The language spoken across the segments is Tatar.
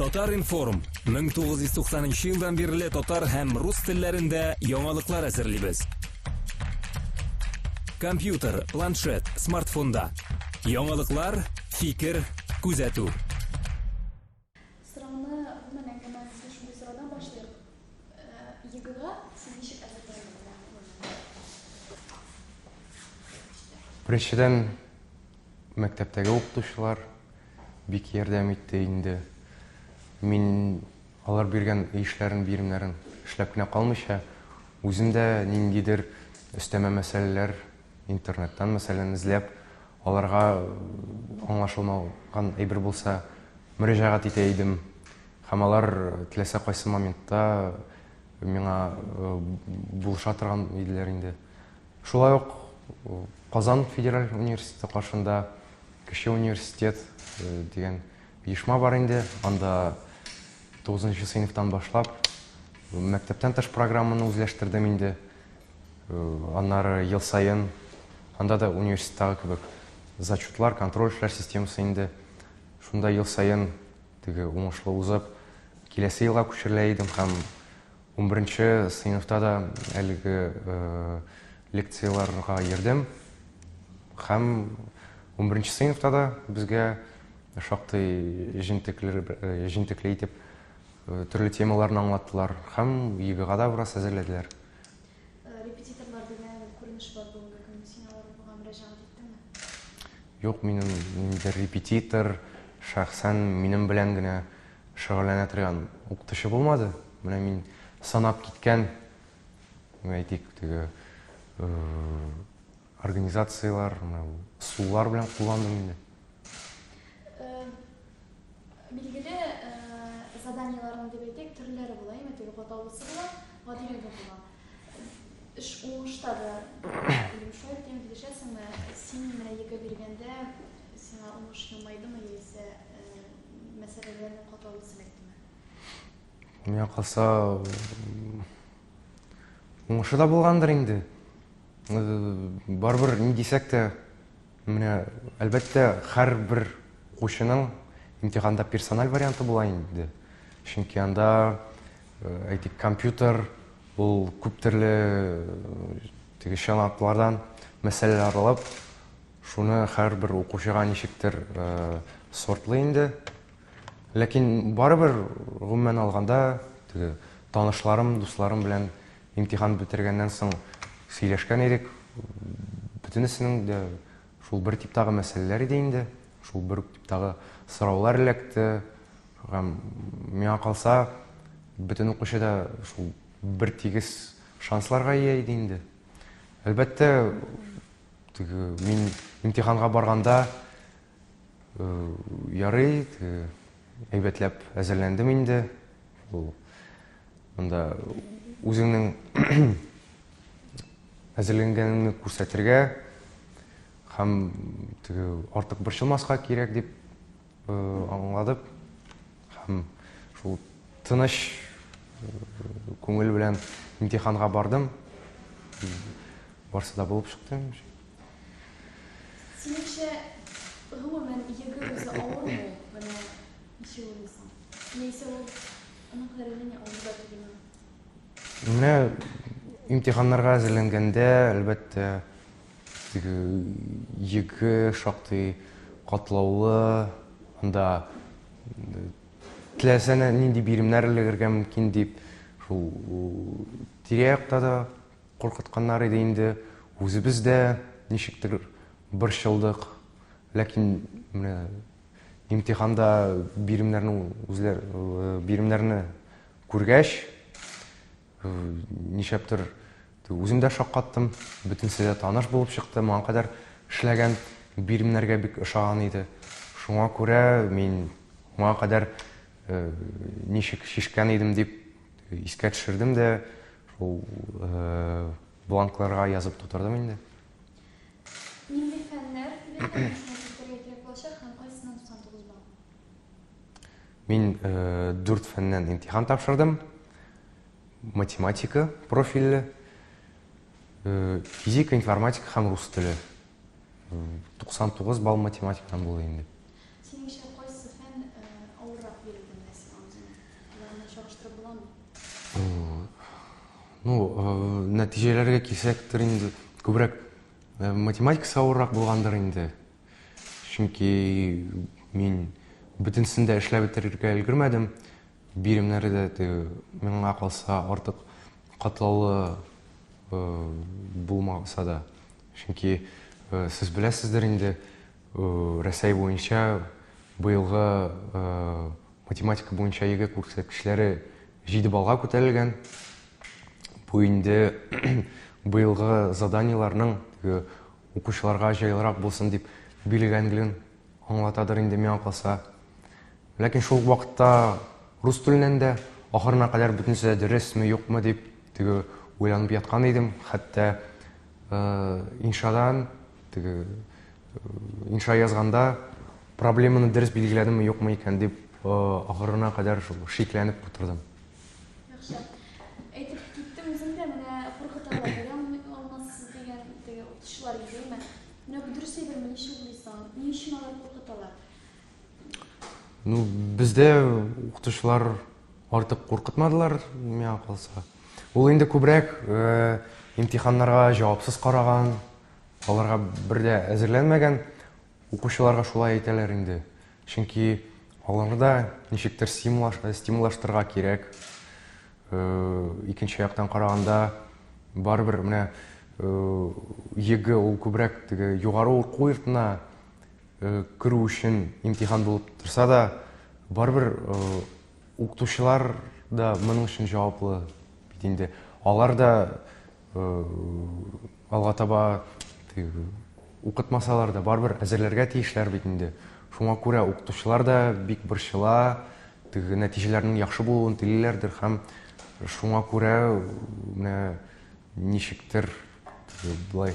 Татар-информ 1990 елдан бирле татар һәм рус телләрендә яңалыклар әзерлибез. Компьютер, планшет, смартфонда. Яңалыклар, фикер, күзәтү. Сорауны гомумән әңгәмә төзү шундый сорадан башлыйк. Егыга сез ничек әзерләндегез? Беренчедән, Мәктәптәге укытучылар бик ярдәм итте инде. Мин алар биргән эшләрен, биремнәрен эшләп кенә калмыйча, үзем дә ниндидер өстәмә мәсьәләләр интернеттан, мәсәлән, эзләп, аларга аңлашылмаган әйбер булса, мөрәҗәгать итә идем. Һәм алар теләсә кайсы моментта миңа булыша торган иделәр инде. Шулай ук Казан федераль университеты каршында Кече университет дигән оешма бар инде. Анда 9 сыйныфтан башлап мәктәптән тыш программаны үзләштердем инде. Аннары ел саен анда да университеттагы кебек зачетлар, контроль эшләр системасы инде. Шунда ел саен теге уңышлы узып, киләсе елга күчерелә идем һәм Унберенче сыйныфта да әлеге лекцияләргә йөрдем. Һәм унберенче сыйныфта да безгә шактый җентекле итеп төрле темаларны аңлаттылар һәм ЕГЭга да бераз әзерләделәр. Репетиторлар дигән күренеш бар бүгенге көнне. Син алар буга мөрәҗәгать иттеңме? Юк, минем ниндидер репетитор шәхсән минем белән генә шөгыльләнә торган укытучы булмады. Менә мин санап киткән, әйтик, теге организацияләр, сулар белән кулландым инде. Билгеле, заданиеләрнең дип әйтик, төрләре була, әйме, теге каталысы була, гадилеге була. Эш уңышта да, дим, шулай дигән килешәсеңме? Син менә егы биргәндә, сиңа уңыш елмайдымы яисә мәсьәләләрне катлаулы селектеме? Миңа калса, уңышы да булгандыр инде. Барыбер ни дисәк тә, менә әлбәттә, һәрбер укучының имтиханда персональ варианты була инде. Чөнки анда, әйтик, компьютер, ул күп төрле теге чыганаклардан мәсьәләләр алып, Шуны һәрбер укучыга ничектер сортлый инде. Ләкин барыбер, гомумән алганда, теге танышларым, дусларым белән имтихан бетергәннән соң сөйләшкән идек. Бөтенесенең дә шул бер типтагы мәсьәләләр иде инде, шул бер типтагы сораулар эләкте. Һәм миңа калса, бөтен укучы да шул бер тигез шансларга ия иде инде. Әлбәттә, Теге мин имтиханга барганда э, ярый, теге әйбәтләп әзерләндем инде. Ул монда үзеңнең әзерләнгәнеңне күрсәтергә һәм теге артык борчылмаска кирәк дип Аңладык һәм шул тыныч күңел белән имтиханга бардым. Барсы да булып чыкты. Синеңчә, гомумән, егы үзе авырмы ул? Менә ничек уйлыйсың? Яисә ул аның кадәр генә авырда түгелме? Менә имтиханнарга әзерләнгәндә, әлбәттә, Теге йөге шактый катлаулы, анда теләсә нинди биремнәр элегергә мөмкин дип, шул тирә-якта да куркытканнар иде инде, үзебез дә ничектер борчылдык. Ләкин менә имтиханда биремнәрне күргәч, Ничәптер үзем дә шаккаттым, бөтенесе дә таныш булып чыкты, моңа кадәр эшләгән биремнәргә бик ошаган иде. Шуңа күрә мин моңа кадәр э, ничек шешкән идем дип искә төшердем дә, шул э, бланкларга язып тутырдым инде. Нинди фәннәр Мин дүрт фәннән имтихан тапшырдым. Математика профильле, физика, информатика һәм рус теле. 99 балл математикадан булды инде. Ну, нәтиҗәләргә килсәк, инде күбрәк математикасы авыррак булгандыр инде. Чөнки мин бөтенсен дә эшләп бетерергә өлгермәдем. Биремнәре дә теге миңа калса артык катлаулы э, булмаса да. Чөнки э, сез беләсездер инде, э, Рәсәй буенча быелгы э, математика буенча ЕГЭ күрсәткечләре 7 баллга күтәрелгән. Бу инде быелгы заданиеләрнең теге Укучыларга җайлырак булсын дип бирелгәнлеген аңлатадыр инде, миңа калса. Ләкин шул ук вакытта рус теленнән дә ахырына кадәр бөтенесе дә дөресме, юкмы дип теге уйланып яткан идем. Хәтта иншадан, теге инша язганда проблеманы дөрес билгеләдемме, юкмы икән дип ахырына кадәр шул шикләнеп утырдым. Яхшы. Әйтеп киттем үзем дә, менә куркыталар, бирә алмый алмассыз дигән теге укытучылар идеме? Менә бу дөрес әйберме, ничек уйлыйсың? Ни өчен алар куркыталар? Ну, бездә укытучылар артык куркытмадылар, миңа калса. Ул инде күбрәк э, имтиханнарга җавапсыз караган, аларга бер дә әзерләнмәгән укучыларга шулай әйтәләр инде. Чөнки аларда ничектер стимуллаштырырга кирәк. Икенче яктан караганда, барыбер менә ЕГЭ ул күбрәк теге югары уку йортына керү өчен имтихан булып торса да, барыбер укытучылар да моның өчен җаваплы бит инде. Алар да Алга таба укытмасалар да, барыбер әзерләргә тиешләр бит инде. Шуңа күрә укытучылар да бик борчыла, теге нәтиҗәләрнең яхшы булуын телиләрдер һәм шуңа күрә менә ничектер болай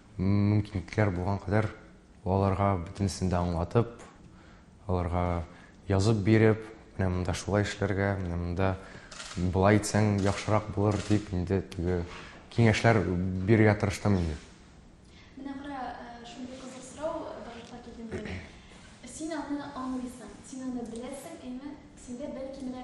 Мөмкинлекләр булган кадәр аларга бөтенесен дә аңлатып, аларга язып биреп, менә монда шулай эшләргә, менә монда болай итсәң яхшырак булыр дип инде теге киңәшләр бирергә тырыштым инде. Менә кара, э, шундый кызык сорау барлыкка килде минем. Син аны аңлыйсың, син аны беләсең, әйме? Синдә бәлки менә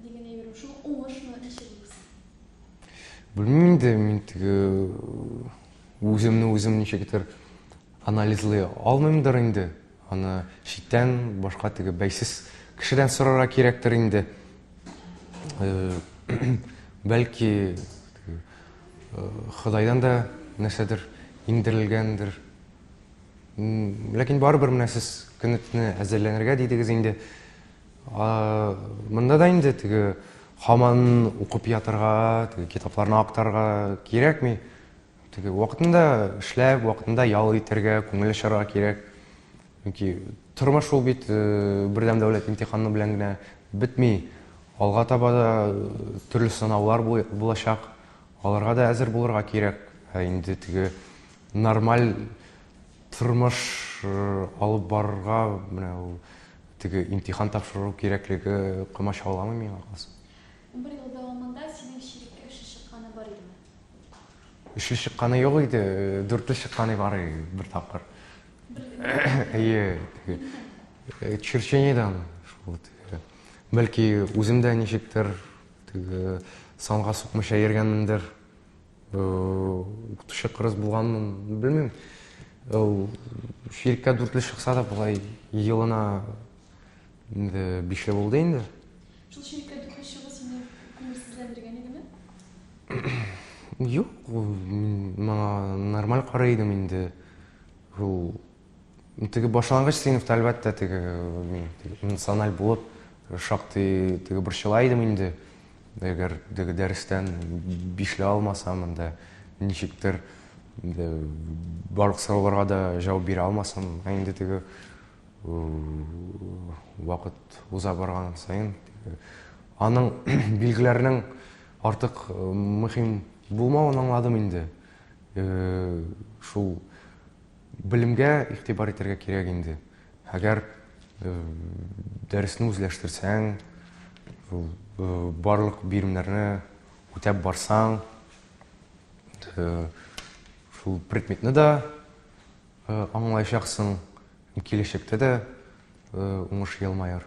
Дигенә йөрү шул уңышмы, ничек булсын? Белмим инде, мин теге үземне үзем ничектер анализлый алмыймдыр инде. Аны читтән башка теге бәйсез кешедән сорарга кирәктер инде. Бәлки Ходайдан да нәрсәдер иңдерелгәндер. Ләкин барыбер менә сез көнетне әзерләнергә дидегез инде. Монда да инде теге хаман укып ятырга, теге китапларны актарга кирәкми. Теге вакытында эшләп, вакытында ял итәргә, күңел ачарга кирәк. Чөнки тормыш ул бит э, бердәм дәүләт имтиханы белән генә бетми. Алга таба да э, төрле сынаулар булачак. Аларга да әзер булырга кирәк. Ә инде теге нормаль тормыш э, алып барырга менә ул Теге имтихан тапшыру кирәклеге комачауламый миңа калса. Унбер ел дәвамында синең чиреккә өчле чыкканы бар идеме? Өчле чыкканы юк иде, дүртле чыкканы бар иде бер тапкыр. Бер генә? Әйе, теге. Э, Черчениедән шул теге. Бәлки үзем дә ничектер теге санга сукмыйча йөргәнмендер. укытучы кырыс булганмын белмим ул ширкә дүртле чыкса да болай елына инде бише булды инде шул ширкә дүртле чыгу сине күңелсезләндергән идеме юк мин моңа нормаль карый идем инде ул Теге башлангыч сыйныфта, әлбәттә, теге мин эмоциональ булып, шактый теге борчыла идем инде. Әгәр теге дәрестән бишле алмасам, инде ничектер инде барлык сорауларга да җавап бирә алмасам, ә инде теге вакыт уза барган саен аның билгеләренең артык мөһим булмавын аңладым инде. Шул Белемгә игътибар итәргә кирәк инде. Әгәр дәресне үзләштерсәң, барлык биремнәрне үтәп барсаң, шул предметны да аңлаячаксың, киләчәктә дә уңыш елмаер.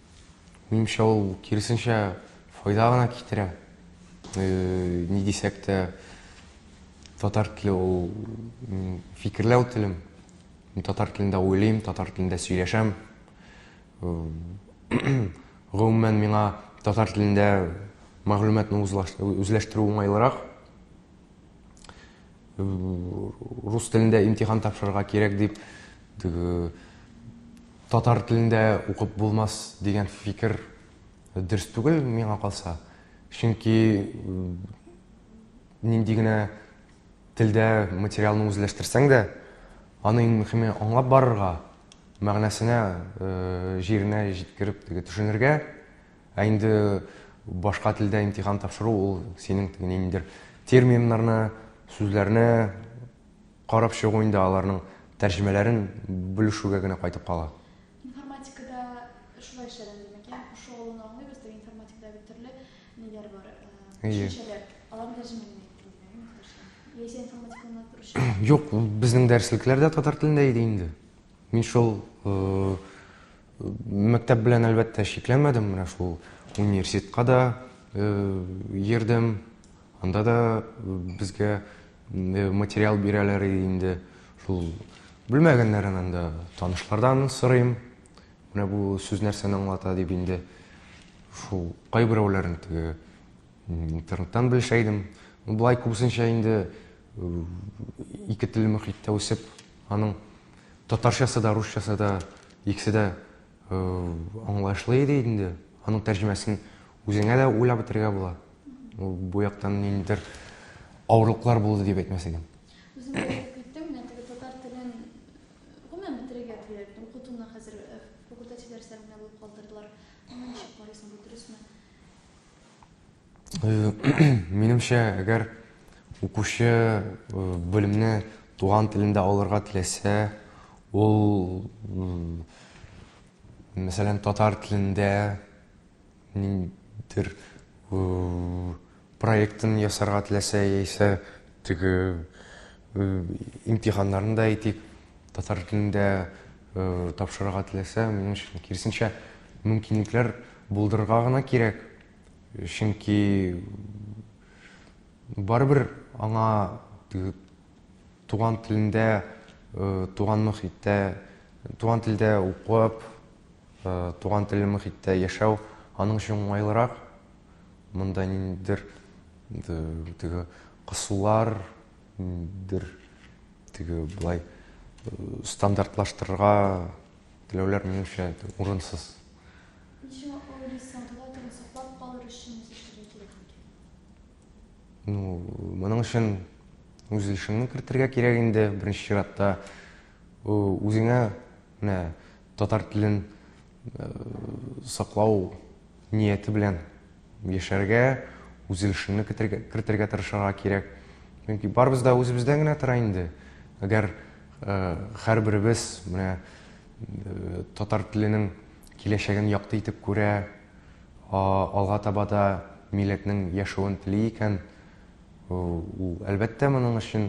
Минемчә, ул киресенчә файда гына китерә. Ни дисәк тә, татар теле ул фикерләү телем. Мин татар телендә уйлыйм, татар телендә сөйләшәм. Гомумән, миңа татар телендә мәгълүматны үзләштерү уңайлырак. Рус телендә имтихан тапшырырга кирәк дип, Татар телендә укып булмас дигән фикер дөрес түгел, миңа калса. Чөнки нинди генә телдә материалны үзләштерсәң дә, аны иң мөхиме аңлап барырга, мәгънәсенә, җиренә җиткереп төшенергә. Ә инде башка телдә имтихан тапшыру ул синең ниндидер терминнарны, сүзләрне, Карап чыгу инде аларның тәрҗемәләрен белешүгә генә кайтып кала. Информатикада шулай эшләгән димәк, ягъни кушу алуны аңлыйбыз, теге информатикада бит төрле ниләр бар, төшенчәләр, аларны тәрҗемә генә итте димәк, инде татар телендә. Яисә информатиканы алып баручы. Юк, безнең дәреслекләр дә татар телендә иде инде. Мин шул мәктәп белән, әлбәттә, чикләнмәдем, менә шул университетка да йөрдем, анда да безгә Инде материал бирәләр инде шул белмәгәннәрен инде танышлардан сорыйм. Менә бу сүз нәрсәне аңлата дип инде шул кайберәүләрен теге интернеттан белешә идем. Болай күбесенчә инде ике телле мөхиттә үсеп, аның татарчасы да, русчасы да, икесе дә Аңлаешлы иде инде. Аның тәрҗемәсен үзеңә дә уйлап бетергә була. Ул бу яктан ниндидер авырлыклар булды дип әйтмәс идем. Үзем әйтеп менә теге татар телен гомумән бетерергә теләр идем. Укытуны хәзер факультатив дәресләр генә булып калдырдылар. Моны ничек карыйсың, бу дөресме? Э, минемчә, әгәр укучы э, белемне туган телендә алырга теләсә, ул мәсәлән татар телендә ниндидер проектын ясарга теләсә яисә теге имтиханнарын да әйтик татар телендә тапшырырга теләсә минем өчен киресенчә мөмкинлекләр булдырырга гына кирәк Чөнки барыбер аңа туган телендә, туган мөхиттә, туган телдә укып, туган телле мөхиттә яшәү аның өчен уңайлырак. Монда ниндидер теге кысулар, ниндидер теге былай стандартлаштырырга Теләүләр, минемчә, урынсыз. Ничең ул дистантула тыгын саклап калыр өчен ничек эшләргә кирәк микән? Ну, моның өчен үз эшеңне кертергә кирәк инде, беренче чиратта. Үзеңә менә татар телен саклау нияте белән Яшәргә, үзелешеңне кертергә, кертергә тырышырга кирәк. Чөнки барыбыз да үзебездән генә тора инде. Әгәр э, һәрберебез менә э, татар теленең киләчәген якты итеп күрә, алга таба да милләтнең яшәвен тели икән, ул әлбәттә моның өчен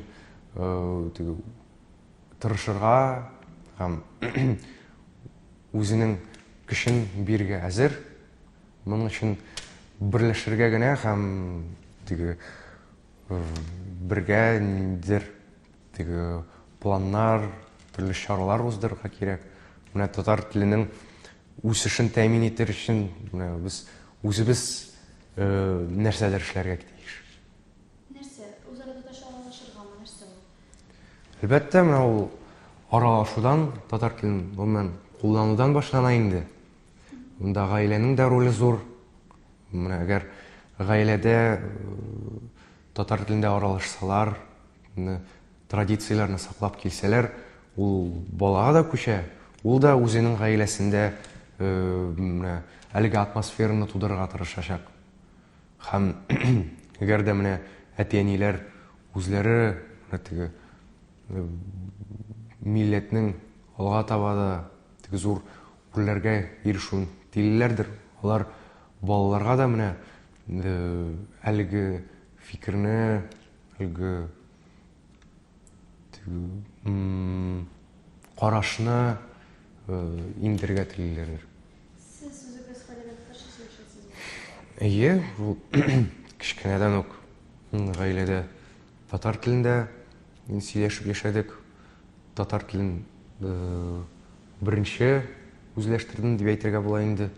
э, тырышырга һәм үзенең көчен бирергә әзер. Моның өчен берләшергә генә һәм теге бергә ниндидер теге планнар, төрле чаралар уздырырга кирәк. Менә татар теленең үсешен тәэмин итер өчен менә без үзебез э, нәрсәдер эшләргә тиеш. Нәрсә? Үзара татарча аралашыргамы? Нәрсә ул? Әлбәттә, менә ул аралашудан, татар телен гомумән кулланудан башлана инде. Монда гаиләнең дә роле зур. Менә әгәр гаиләдә э, татар телендә аралашсалар, традицияләрне саклап килсәләр, ул балага да күчә, ул да үзенең гаиләсендә э, менә әлеге атмосфераны тудырырга тырышачак. Һәм әгәр дә менә әти-әниләр үзләре теге э, милләтнең алга таба да теге зур Күлләргә ел шун тилеләрдер. Алар балаларга да менә әлеге фикерне, әлеге карашны иңдерергә телиләрдер. Сез үзегез гаиләдә татарча сөйләшәсезме? Әйе, бу кечкенәдән үк гаиләдә татар телендә сөйләшеп яшәдек. Татар телен Беренче үзләштердем дип әйтергә була инде.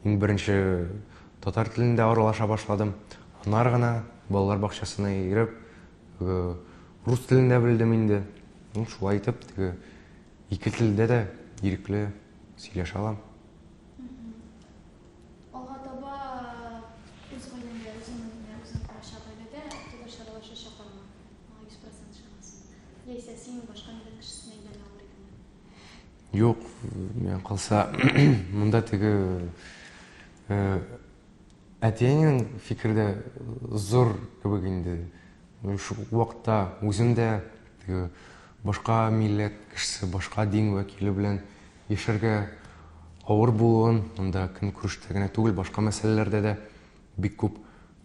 Иң беренче татар телендә аралаша башладым. Аннары гына балалар бакчасына йөреп, рус телен дә белдем инде. Ну, шулай итеп, теге ике телдә дә ирекле сөйләшә алам. Алга таба үз гаиләңдә, үзең генә үзең калачак гаиләдә татарча аралашачаклармы? Моңа 100% ышанасыңмы? Яисә син башка милләт кешесенә әйләнә алыр идеңме? Юк, миңа калса, монда теге әтиеңнең фикере дә зур кебек инде. Шул вакытта үзем дә теге башка милләт кешесе, башка дин вәкиле белән яшәргә авыр булуын, монда көн күрештә генә түгел, башка мәсьәләләрдә дә бик күп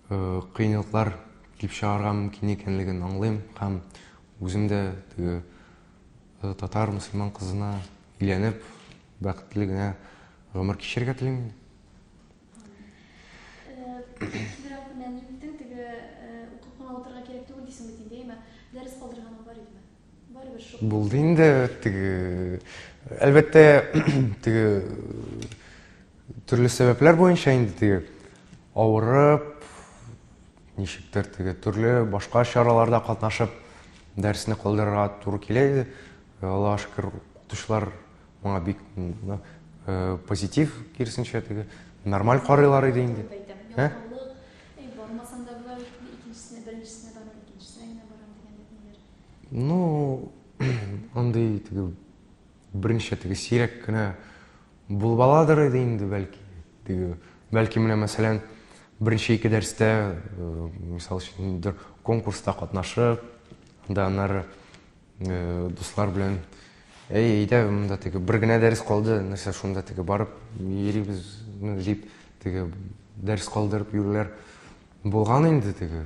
кыенлыклар килеп чыгарга мөмкин икәнлеген аңлыйм һәм үзем дә теге Татар мөселман кызына өйләнеп, бәхетле генә гомер кичерергә телим. Булды инде теге әлбәттә теге төрле сәбәпләр буенча инде теге авырып Ничектер теге төрле башка чараларда катнашып, дәресне калдырырга туры килә иде. Э, Аллаһ шөкер, укытучылар моңа бик э, позитив, киресенчә теге нормаль карыйлар иде инде. Ә? Ну, андый теге Берничә теге сирәк кенә булып аладыр иде инде, бәлки. Теге, бәлки менә мәсәлән, беренче ике дәрестә, мисал өчен, ниндидер конкурста катнашып, да аннары дуслар белән әй, әйдә, монда теге бер генә дәрес калды, нәрсә шунда теге барып йөрибез, дип, теге дәрес калдырып йөрүләр булган инде теге.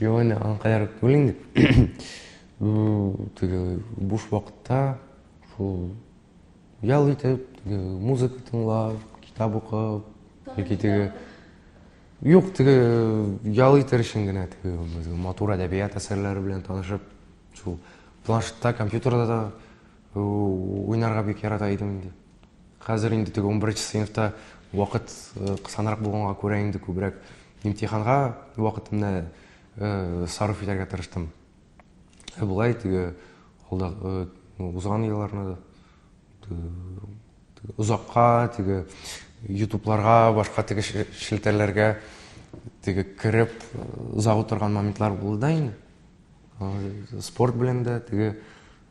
Юк, әне, аңа кадәр түгел инде. Бу теге буш вакытта шул ял итеп, теге музыка тыңлап, китап укып, яки теге Юк, теге ял итер өчен генә теге безгә матур әдәбият әсәрләре белән танышып, шул планшетта, компьютерда да уйнарга бик ярата идем инде. Хәзер инде теге унберенче сыйныфта вакыт э, кысанрак булганга күрә инде күбрәк имтиханга вакытымны э, сарыф итәргә тырыштым. Ә болай теге алда э, узган елларны озакка теге ютубларга башка теге шелтәрләргә теге кереп озак утырган моментлар булды да инде спорт белән дә теге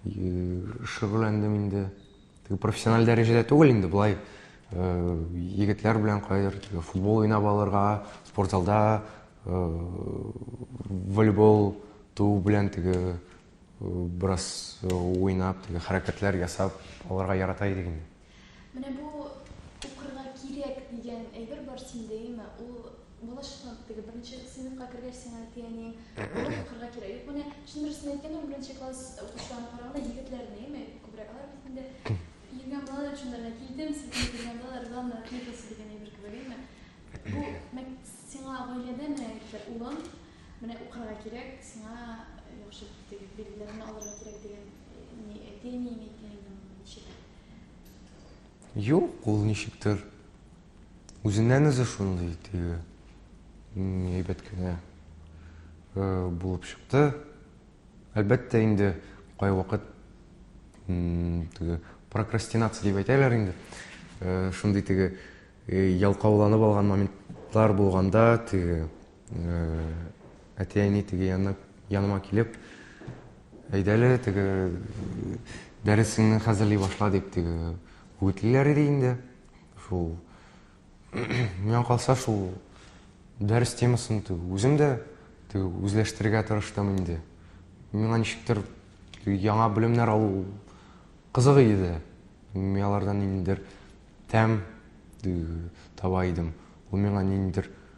шөгыльләндем инде Теге профессиональ дәрәҗәдә түгел инде, болай э, егетләр белән кайдыр теге футбол уйнап алырга, спорт залда э, волейбол туу белән теге э, бераз уйнап, теге хәрәкәтләр ясап алырга ярата идек инде. Менә бу укырга кирәк дигән әйбер бар синдә, әйеме? Ул Булышмак теге, беренче сыйныфка кергәч сиңа әти-әниең булып укырга кирәк. Юк, менә чын дөресен әйткәндә, ул беренче класс укучыларына караганда егетләрне, яме күбрәк алар бит инде йөргән балалар шунда гына килдем, селкенеп йөргән балалар, главное отметился дигән әйбер кебек, яме. Бу мәк сиңа гаиләдә менә әйттеләр, улым, менә укырга кирәк, сиңа яхшы теге билгеләрне алырга кирәк дигән ни әти-әниең әйткән инде моны ничек? Юк, ул ничектер Үзеннән үзе шундый теге әйбәт кенә булып чыкты. Әлбәттә инде кайвакыт теге прокрастинация дип әйтәләр инде. Шундый теге ялкауланып алган моментлар булганда теге әти-әни теге янына яныма килеп әйдәле теге дәресеңне хәзерли башла дип теге үгетлиләр иде инде. Шул миңа калса шул дәрес темасын теге үзем дә теге үзләштерергә тырыштым инде. Миңа ничектер яңа белемнәр алу кызык иде. Мин алардан ниндидер тәм таба идем. Ул миңа ниндидер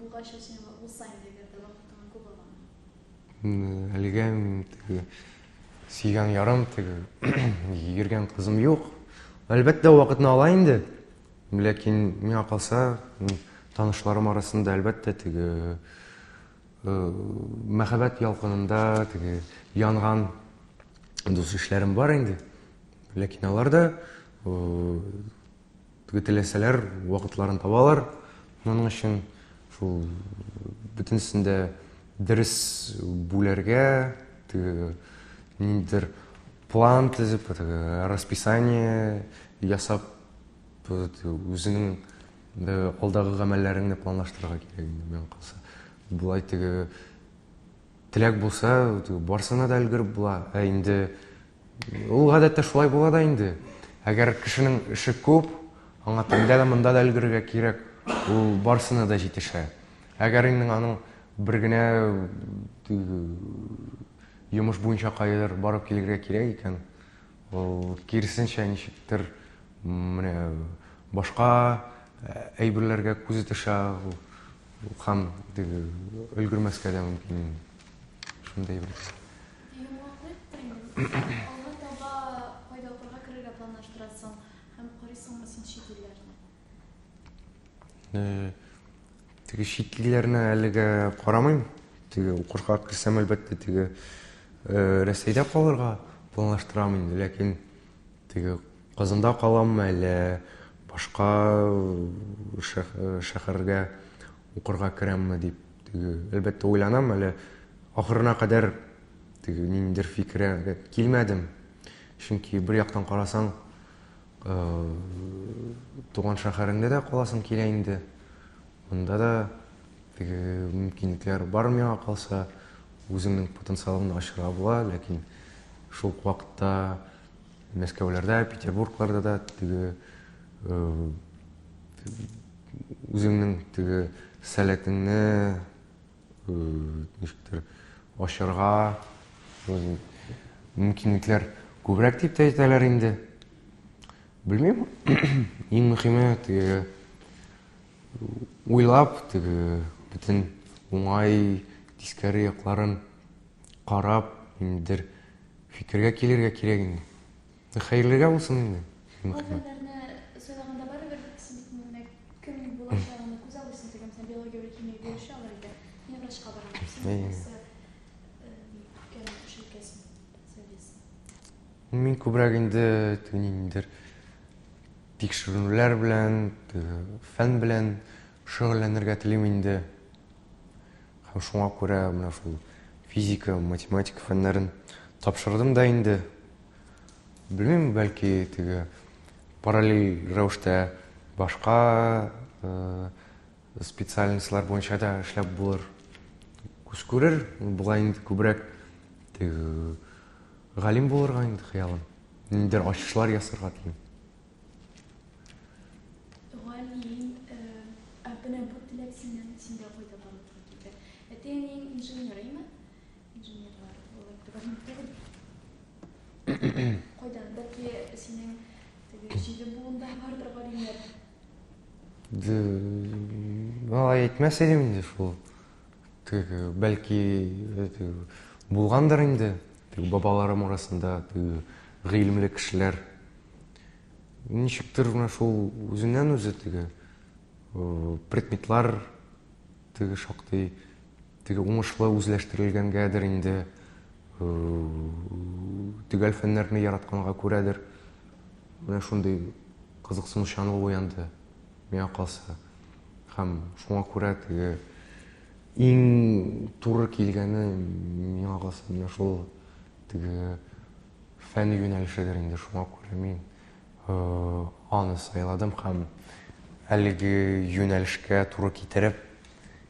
Булгач, ул сиңа ул сайын дигәндә вакытыңа күп аламы? Әлегә теге сөйгән ярым теге йөргән кызым юк. Әлбәттә, вакытны ала инде. Ләкин миңа калса, танышларым арасында әлбәттә теге э, мәхәббәт ялкынында теге янган дус ишләрем бар инде. Ләкин алар да э, Теге теләсәләр вакытларын табалар. Моның өчен шул бөтенесен дә дөрес бүләргә, теге ниндидер план төзеп, теге расписание ясап, үзенең алдагы гамәлләреңне планлаштырырга кирәк инде, миңа калса. Болай теге Теләк булса, барсына да өлгереп була. Ә инде ул гадәттә шулай була да инде. Әгәр кешенең эше күп, аңа тәндә дә монда да өлгерергә кирәк, ул барсына да җитешә. Әгәр инде аның бер генә йомыш буенча кайдыр барып килергә кирәк икән, Ул киресенчә ничектер менә башка әйберләргә күзе төшә һәм теге өлгермәскә дә мөмкин. Шундый бер. Алга таба кайда укырга керергә планлаштырасың һәм карыйсыңмы син чит илләрне? Э, теге чит илләренә әлегә карамыйм теге укырга керсәм әлбәттә теге э, рәсәйдә калырга планлаштырам инде ләкин теге казанда каламмы әллә башка э, шәһәргә укырга керәмме дип теге әлбәттә уйланам әле ахырына кадәр теге ниндидер фикергә килмәдем чөнки бер яктан карасаң Туган шәһәреңдә дә каласың килә инде. Монда да теге мөмкинлекләр бар миңа калса, үзеңнең потенциалыңны ачырга була, ләкин шул ук вакытта Мәскәүләрдә, Петербургларда да теге үзеңнең теге сәләтеңне ничектер ачарга мөмкинлекләр күбрәк дип тә әйтәләр инде белмим иң мөһиме теге уйлап теге бөтен уңай тискәре якларын карап ниндидер фикергә килергә кирәк инде Хәерлегә булсын инде. Мин күбрәк инде ниндидер тикшеренүләр белән, фән белән шөгыльләнергә телим инде. Һәм шуңа күрә менә шул физика, математика фәннәрен тапшырдым да инде. Белмим, бәлки теге параллель рәвештә башка э, специальностьлар буенча да эшләп булыр. Күз күрер, бугай инде күбрәк теге галим булырга инде хыялым. Ниндидер ачышлар ясарга телим. Галим, э, ә менә бу теләк синнән синдә кайда барлыкка килде? Әти-әниең инженер име? Алай әйтмәс идем инде шул. Бәлки булгандыр инде. Бабаларым арасында гыйлемле кешеләр. Ничектер менә шул үзеннән-үзе теге предметлар теге шактый Теге уңышлы үзләштерелгәнгәдер инде, төгәл фәннәрне яратканга күрәдер, менә шундый кызыксынучанлык уянды, миңа калса. Һәм шуңа күрә теге иң туры килгәне миңа калса менә шул теге фән юнәлешедер инде шуңа күрә мин э, аны сайладым һәм әлеге юнәлешкә туры китереп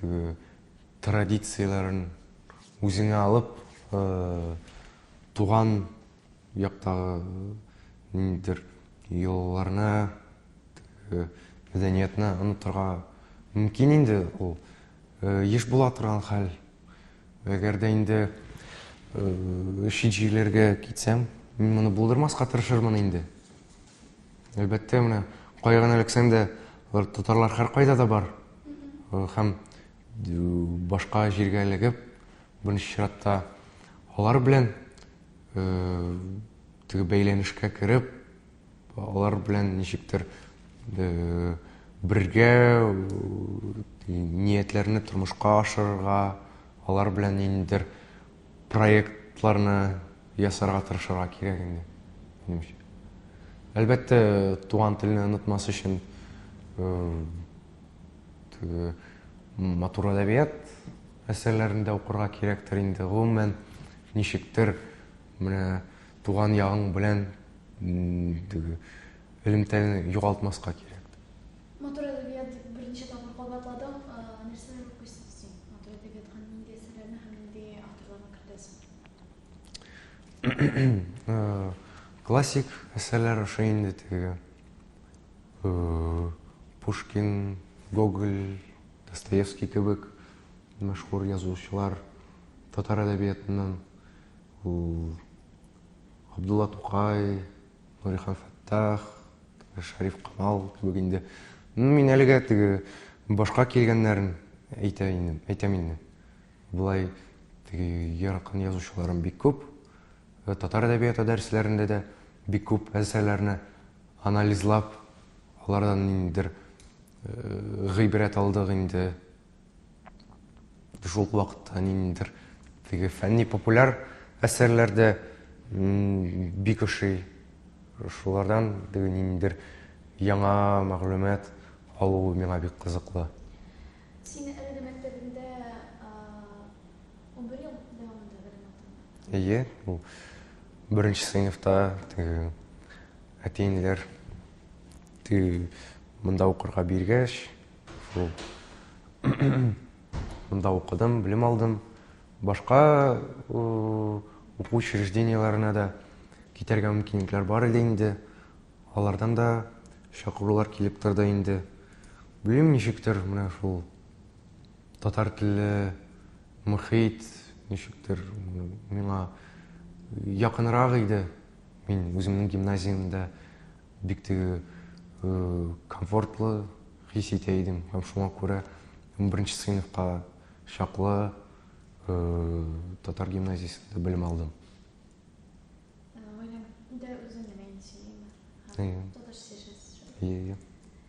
Теге традицияләрен үзеңә алып, туган яктагы ниндидер йолаларны, теге мәдәниятны онытырга мөмкин инде, ул еш була торган хәл. Әгәр дә инде чит җирләргә китсәм, мин моны булдырмаска тырышырмын инде. Әлбәттә, менә кая гына эләксәң дә, алар татарлар һәркайда да бар. Һәм башка җиргә эләгеп, беренче чиратта алар белән теге бәйләнешкә кереп, алар белән ничектер бергә ниятләрне тормышка ашырырга, алар белән ниндидер проектларны ясарга тырышырга кирәк инде, минемчә. Әлбәттә, туган телне онытмас өчен теге матур әдәбият әсәрләрен дә укырга кирәктер инде. Гомумән, ничектер менә туган ягың белән теге элемтәне югалтмаска кирәк. Матур әдәбият дип берничә тапкыр кабатладың. Нәрсәләр укыйсыз син? Матур әдәбиятка нинди әсәрләрне һәм нинди авторларны кертәсең? Классик әсәрләр ошый инде теге. Пушкин, Гоголь, Достоевский кебек мәшһүр язучылар татар әдәбиятыннан. Абдулла Тукай, Нурихан Фәттах, Шәриф Камал кебек инде. Ну, мин әлегә теге башка килгәннәрен әйтә инде, әйтәм инде. Болай теге яракын язучыларым бик күп. Э, татар әдәбияты дәресләрендә дә бик күп әсәрләрне анализлап, алардан ниндидер э, гыйбрәт алдык инде. Шул ук вакытта ниндидер теге фәнни-популяр әсәрләр дә бик ошый. Шулардан теге ниндидер яңа мәгълүмат алу миңа бик кызыклы. Син әлеге мәктәбендә унбер ел дәвамында белем алдың? Әйе, ул беренче сыйныфта теге әти-әниләр теге монда укырга биргәч, Мин монда укыдым, белем алдым. Башка уку учреждениеләренә дә китәргә мөмкинлекләр бар иде инде. Алардан да чакырулар килеп торды инде. Белмим ничектер, менә шул татар телле мөхит ничектер миңа якынрак иде. Мин үземнең гимназиямдә Бик теге комфортлы хис итә идем һәм шуңа күрә беренче сыйныфка чаклы татар гимназиясендә белем алдым. Гаиләңдә үзең нәмәйнисең, әйе. Татарча сөйләшәсез. Әйе, әйе.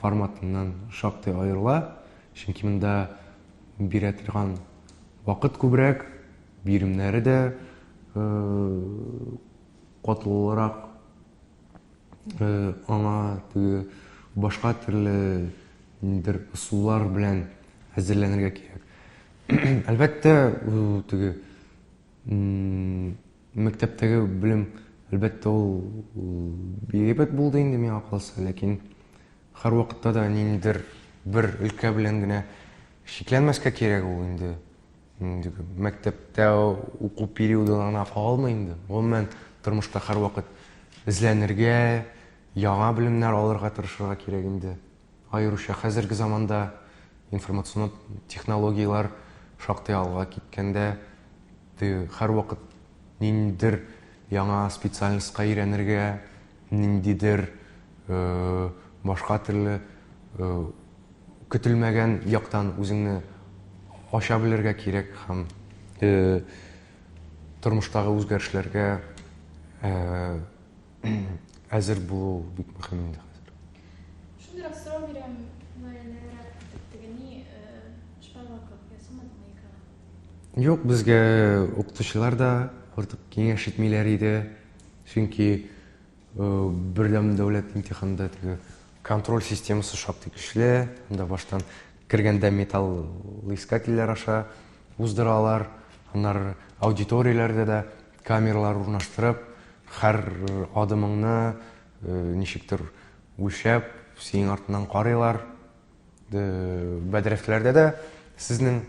форматыннан шактый аерыла, чөнки монда бирә торган вакыт күбрәк, биремнәре дә катлаулырак, аңа теге башка төрле ниндидер ысуллар белән әзерләнергә кирәк. Әлбәттә, теге Мәктәптәге белем, әлбәттә, ул бигрәк булды инде миңа калса, ләкин һәрвакытта да ниндидер бер өлкә белән генә чикләнмәскә кирәк ул инде. Мәктәптә уку периодына гына калмый инде. Гомумән, тормышта һәрвакыт эзләнергә, яңа белемнәр алырга тырышырга кирәк инде. Аеруча хәзерге заманда информацион технологияләр шактый алга киткәндә, һәрвакыт ниндидер яңа специальностька өйрәнергә, ниндидер башка төрле көтелмәгән яктан үзеңне ача белергә кирәк һәм тормыштагы үзгәрешләргә әзер булу бик мөһим инде хәзер. Шундыйрак сорау бирәм, мөгаеннәнрәк итеп, теге ни, шпаллак кебек ясамадыңмы икәү? Юк, безгә укытучылар да артык киңәш итмиләр иде, чөнки бердәм дәүләт имтиханында теге контроль системасы шактый көчле, анда баштан кергәндә металлоискательләр аша уздыралар, аннары аудиторияләрдә дә Камералар урнаштырып, хәр адымыңны ничектер үлчәп, синең артыннан карыйлар. Бәдрәфләрдә дә сезнең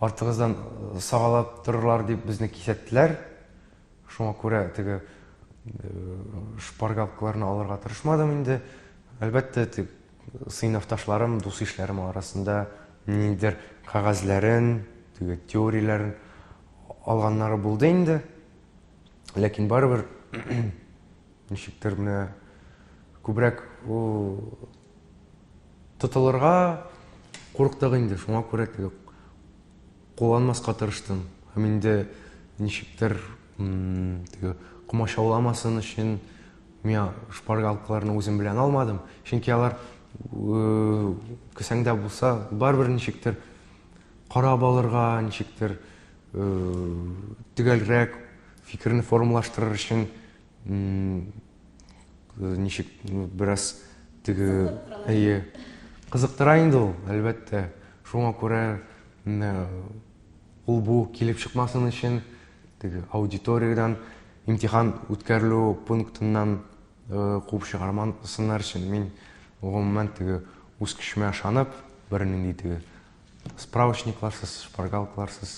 артыгыздан сагалап торырлар дип безне кисәттеләр. Шуңа күрә теге шпаргалкаларны алырга тырышмадым инде. Әлбәттә, Сыйныфташларым, дус-ишләрем арасында ниндидер кәгазьләрен, теге теорияләрен алганнары булды инде. Ләкин барыбер ничектер менә күбрәк тотылырга курыктык инде. Шуңа күрә теге кулланмаска тырыштым. Һәм инде ничектер теге комачауламасын өчен Миңа шпаргалкаларны үзем белән алмадым, чөнки алар кесәңдә булса, барыбер ничектер карап алырга, ничектер төгәлрәк фикерне формалаштырыр өчен ничек бераз теге әйе кызыктыра инде ул, әлбәттә. Шуңа күрә ул бу килеп чыкмасын өчен теге аудиториядән имтихан үткәрелү пунктыннан э, куып чыгармасыннар өчен мин гомумән теге үз көчемә ышанып бернинди теге справочникларсыз шпаргалкаларсыз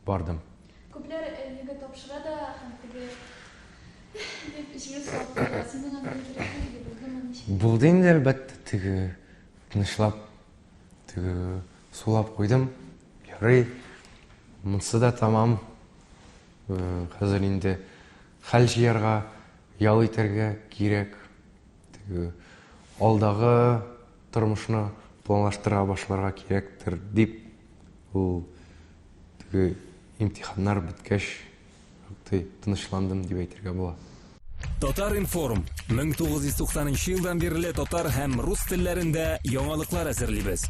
бардым күпләр егы э, тапшыра да һәм теге дип җиңел салып синең андый булдымы булды инде әлбәттә теге тынычлап Теге сулап куйдым. Ярый. Монсы да тамам. Э, хәзер инде хәл җыярга, ял итәргә кирәк. Теге алдагы тормышны планлаштыра башларга кирәктер дип ул теге имтиханнар беткәч шактый тынычландым дип әйтергә була. Татар-информ, 1990 нчы елдан бирле татар һәм рус телләрендә яңалыклар әзерлибез.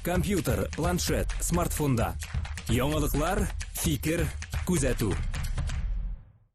Компьютер, планшет, смартфонда. Яңалыклар, фикер, күзәтү.